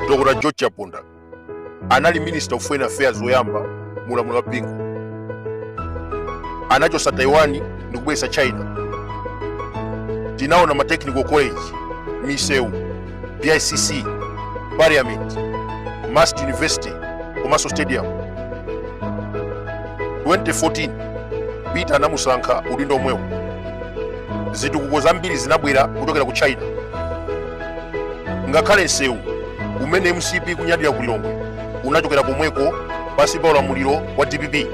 dr george chaponda anali minister of foreign affairs woyamba mu ulamuliro wa bingu anachosa taiwan ndi kubweretsa china tinaona ma technical college misewu bicc parliament mast university komanso stadium 2014 peter anamusankha udindo omwewo zitukuko zambiri zinabwera kuchokera ku china ngakhale msewu umene mcp kunyadira ku lilongwe unachokera komweko pansi pa ulamuliro wa dpp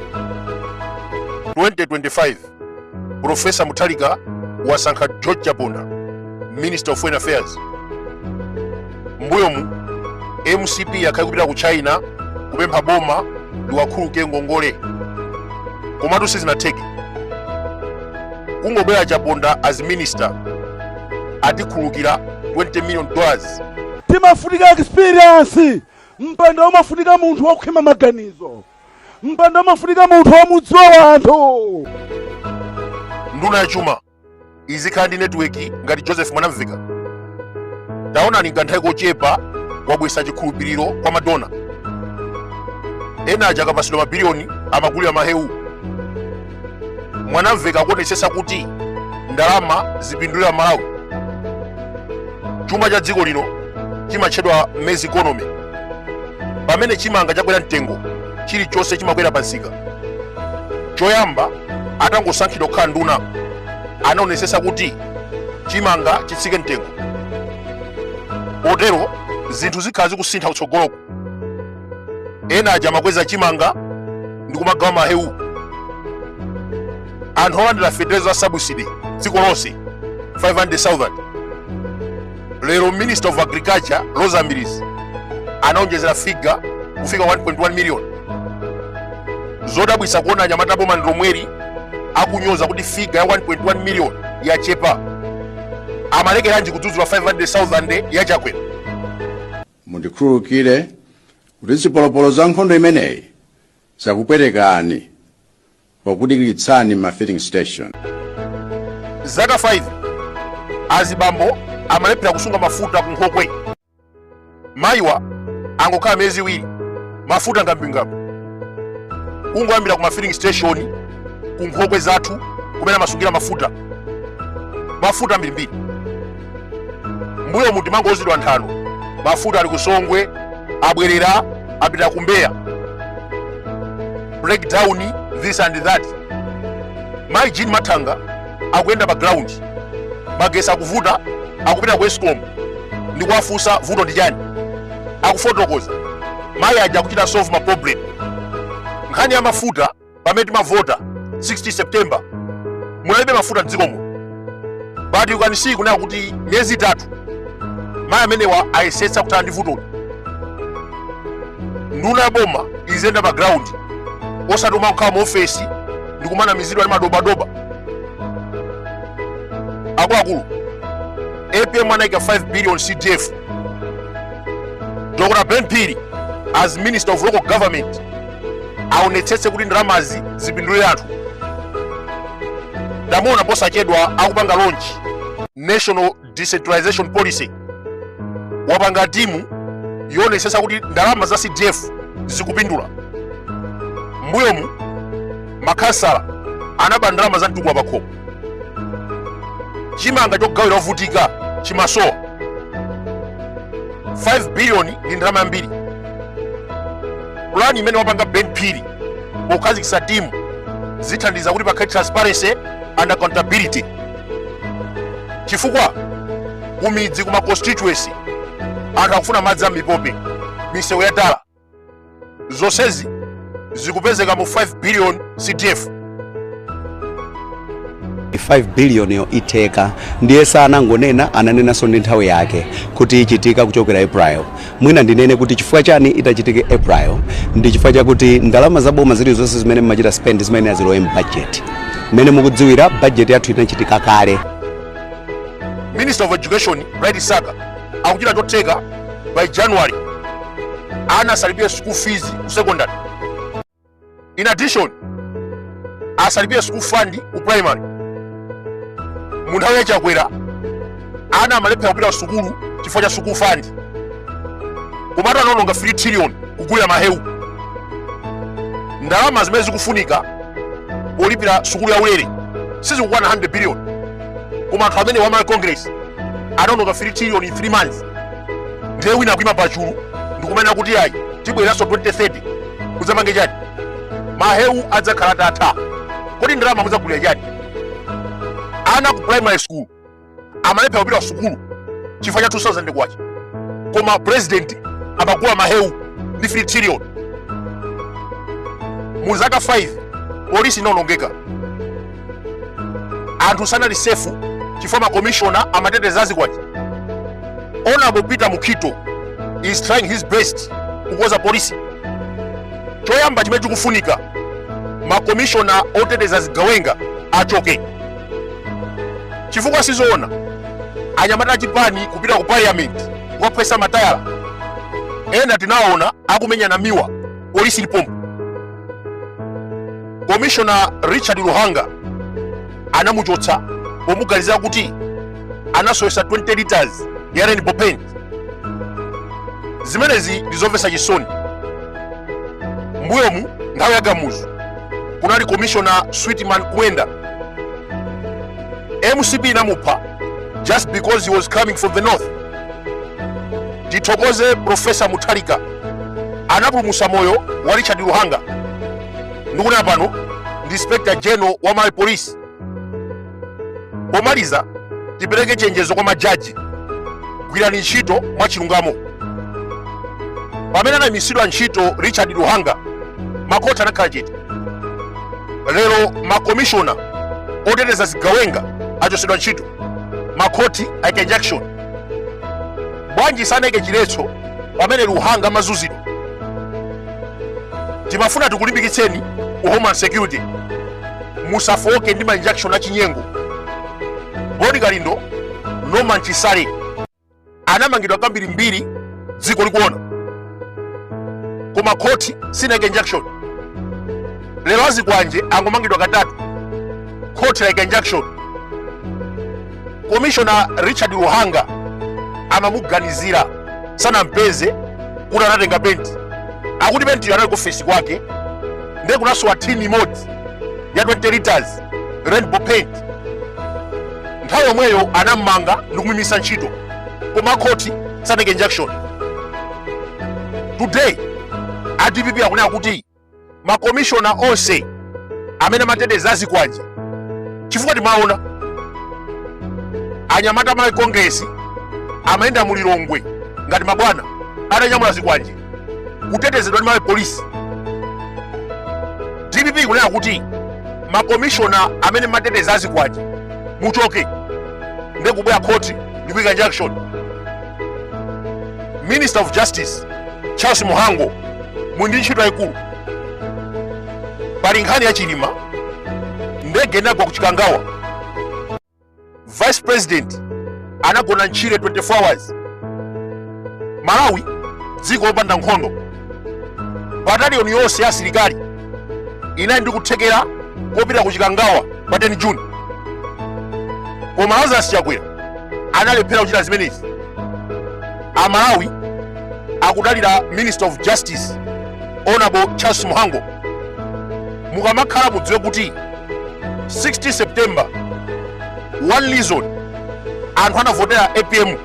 2025 profesa mutharika wasankha george chaponda minister of foreign affairs mbuyomu mcp yakhala ikupita ku china kupempha boma liwakhululuke ngongole komatu sizinatheke kungobwera chaponda as minister atikhululukira 20 million dollars pimafunika experience mpando umafunika munthu wokhwima maganizo mpando umafunika munthu womudziwa anthu nduna ya chuma izikhala ndi netiweki ngati joseph mwanamvekha taonani kanthawi kochepa wabwesa chikhulupiriro kwa ma donor ena aja akapasidwa mabiliyoni amagulira mahewu mwanamvekha akuonetsetsa kuti ndalama zipindulira amalawi chuma cha dziko lino chimatchedwa maize economy pamene chimanga chakwera mtengo chilichonse chimakwera pansika choyamba atangosankhidwa kukhala nduna anaonetsetsa kuti chimanga chitsike mtengo potero zinthu zikhala zikusintha kutsogoloku ena aja amakweza chimanga ndi kumagawa mahewu anthu olandira feteleza wa sabusidi dziko lonse 500,000 lero minister of agriculture roza mbilizi anaonjezera figa kufika 1.1 million zodabwisa kuona anyamata boma ndilomweri akunyoza kuti figa ya 1.1 million yachepa amalekeranji kudzudzula 500,000 ya chakwera Mundikhululukire kuti zipolopolo za nkhondo imeneyi zakupwetekani pokudikiritsani m'ma filling station. zaka 5 azibambo amalephera kusunga mafuta ku nkhokwe mayiwa angokhala miyezi iwiri mafuta ngwambingwambi kungoyambira ku ma filling station ku nkhokwe zathu kumene amasungira mafuta mafuta ambirimbiri mbuyomu timangouzidwa nthano mafuta ali kusongwe abwerera apita kumbeya breakdown this and that mai jean mathanga akuyenda pa ground magesi akuvuta akupita ku escom ndi kuwafunsa vuto ndi chani akufotokoza mayi aja akuchita solve ma problem nkhani ya mafuta pamene timavota 16 september munalibe mafuta mdzikomo but you can see kunena kuti miyezi itatu mayi amenewa ayesetsa kuthana ndi vutoli nduna ya boma iziyenda pa ground osati kumakhala mu ofesi ndi kumanamizidwa ndi madobadoba akuluakulu apm anaika 5 billion cdf dr ben phiri as minister of local government aonetsetse kuti ndalamazi zipindulire anthu ndamuona posachedwa akupanga launch national decentralization policy wapanga timu yoonetsetsa kuti ndalama za cdf zikupindula mbuyomu makhansala anaba ndalama za mtukula pakhomo chimanga chogawira ovutika chimasowa 5 biliyoni ndi ndalama yambiri pulani imene wapanga ben phiri pokhazikitsa timu zithandiza kuti pakhale transparency and accountability chifukwa kumidzi kuma constituency anthu akufuna madzi a mipope misewu ya tala zonsezi zikupezeka mu 5 billion cdf 5 billion yo itheka ndiye sanangonena ananenanso ndi nthawi yake kuti ichitika kuchokera april mwina ndinene kuti chifukwa chani itachitike april ndi chifukwa chakuti ndalama za boma zilizonse zimene mmachita spend zimayenera zilowe mu bajeti mmene mukudziwira bajeti yathu inachitika kale minister of education bright msaka akuchita chotheka by january ana asalipire school fees ku secondary in addition asalipire school fund ku primary mu nthawi ya chakwera ana amalephera kupita sukulu chifukwa cha school fund komatu anaononga 3 trillion kugulira mahewu ndalama zimene zikufunika polipira sukulu ya ulere sizikukwana 100 billion koma anthu amenewa a malawi congress anaononga 3 trillion in 3 months ndiye wina akuima pachulu ndikumanena kuti ayi tibweranso 2030 kudzapanga chani mahewu adzakhala atatha kodi ndalama mudzagulira chani ana ku primary school amalephera kupita sukulu chifukwa cha 2000 kwacha koma president amagula mahewu ndi 3 trillion mu zaka 5 polisi inaonongeka anthu sanali safe chifukwa makomishona amateteza zikwanje honorable peter mukhito is trying his best kukonza polisi choyamba chimene chikufunika makomishona oteteza zigawenga achoke chifukwa sizoona anyamata achipani kupita ku parliament kukaphwetsa matayala ena tinaona akumenyana miwa polisi ili pompo komishona richard luhanga anamuchotsa pomuganizira kuti anasowetsa 20 liters ya rainbow paint zimenezi ndizomvetsa chisoni mbuyomu nthawi ya kamuzu kunali komishona sweetman kumwenda mcp inamupha just because he was coming from the north tithokoze profesa mutharika anapulumutsa moyo wa Richard Luhanga ndikunena pano ndi Inspector General wa Malawi Police. Pomaliza tipereke chenjezo kwa majaji, gwirani ntchito mwachilungamo. Pamene anayimitsidwa ntchito Richard Luhanga, makhoti anakhala chete. Lero makomishona oteteza zigawenga achotsedwa ntchito. makhoti aike injunction bwanji sanaike chiletso pamene luhanga amazuzidwa timafuna tikulimbikitseni ku homeland security musafooke ndi ma injunction achinyengo boni kalindo norman chisale anamangidwa kambirimbiri dziko likuona koma khoti sinayike injunction lero azikwanje angomangidwa katatu khoti layika injunction komishona richard luhanga amamuganizira sanampeze kuti anatenga penti akuti pentiyo anali ku ofesi kwake ndiye kunasowa tini imodzi ya 20 liters rainbow paint nthawi yomweyo anammanga ndikumuimitsa ntchito koma khoti sanaike injunction today a dpp akunena kuti makomishona onse amene amateteza azikwanje chifukwa timaona anyamata malawi congress amayenda mulilongwe ngati mabwana atanyamula zikwanje kutetezedwa ndi malawi police dpp ikunena kuti makomishona amene amateteza azikwanje muchoke ndi kubwera khoti ndi kuika injunction minister of justice charles mhango muli ndi ntchito yayikulu pali nkhani ya chilima ndege inagwa ku chikangawa vice president anagona ntchire 24 hours malawi dziko lopanda nkhondo bataliyoni yonse ya asilikali inali ndi kuthekera kopita ku chikangawa pa 10 june koma lazarus chakwera analephera kuchita zimenezi amalawi akudalira minister of justice honorable charles mhango mukamakhala mudziwe kuti 16 september one reason anthu anavotera apm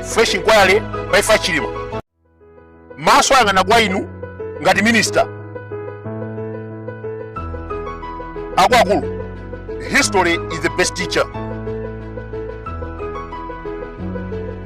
fresh inquiry pa imfa ya chilima maso ayang'ana kwa inu ngati minister akuluakulu history is the best teacher